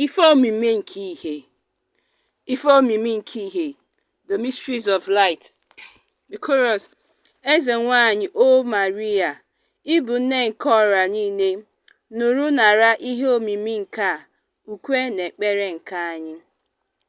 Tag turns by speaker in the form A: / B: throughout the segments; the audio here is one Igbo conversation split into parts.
A: Ife omimi nke ihe Ife omimi nke ihe The Mysteries of Light The Chorus Eze nwanyị O Maria, ị bụ nne nke ọra niile, nụrụ nara ihe omimi nke a, ukwe na ekpere nke anyị.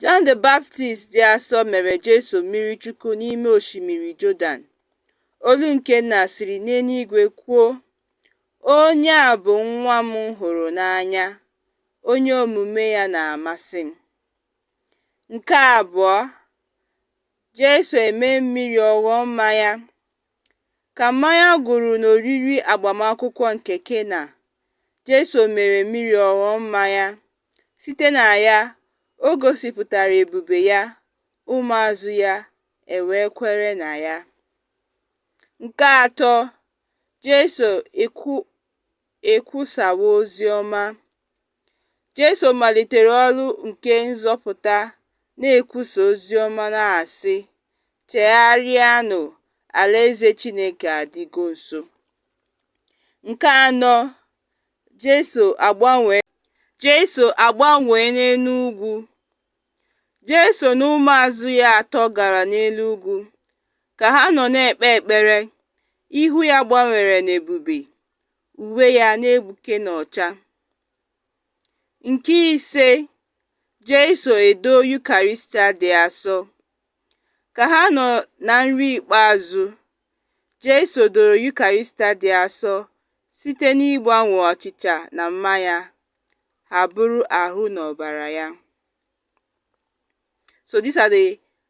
A: John the Baptist dị asọ mere Jesu mmiri Chukwu n'ime osimiri Jọdan. Olu nke Nna siri n'eluigwe kwuo, Onye a bụ nwa m hụrụ n'anya, onye omume ya na-amasị m. Nke abụọ, Jesu eme mmiri ọ ghọọ mmanya. Ka mmanya gwụrụ n'oriri agbamakwụkwọ nke Kena, Jesu mere mmiri ọ ghọọ mmanya. Site na ya, o gosipụtara ebube ya, ụmụazụ ya ewee kwere na ya. Nke atọ, Jesu ekwusawa ozi ọma. Jesu malitere ọrụ nke nzọpụta na-ekwusa ozi ọma na-asị, Chegharịanụ, Alaeze Chineke adịgo nso. Nke anọ, Jesu agbanwee Jesu agbanwee n'elu ugwu. Jesu na ụmụazụ ya atọ gara n'elu ugwu. Ka ha nọ na-ekpe ekpere, ihu ya gbanwere n'ebube. uwe ya na-egbuke n'ọcha. Nke ise, Jesu edo Yukarịstịa dị asọ. Ka ha nọ na nri ikpeazụ, Jesu doro Yukarịstịa dị asọ site n'ịgbanwe achịcha na mmanya ha bụrụ ahụ na ọbara ya. So these are the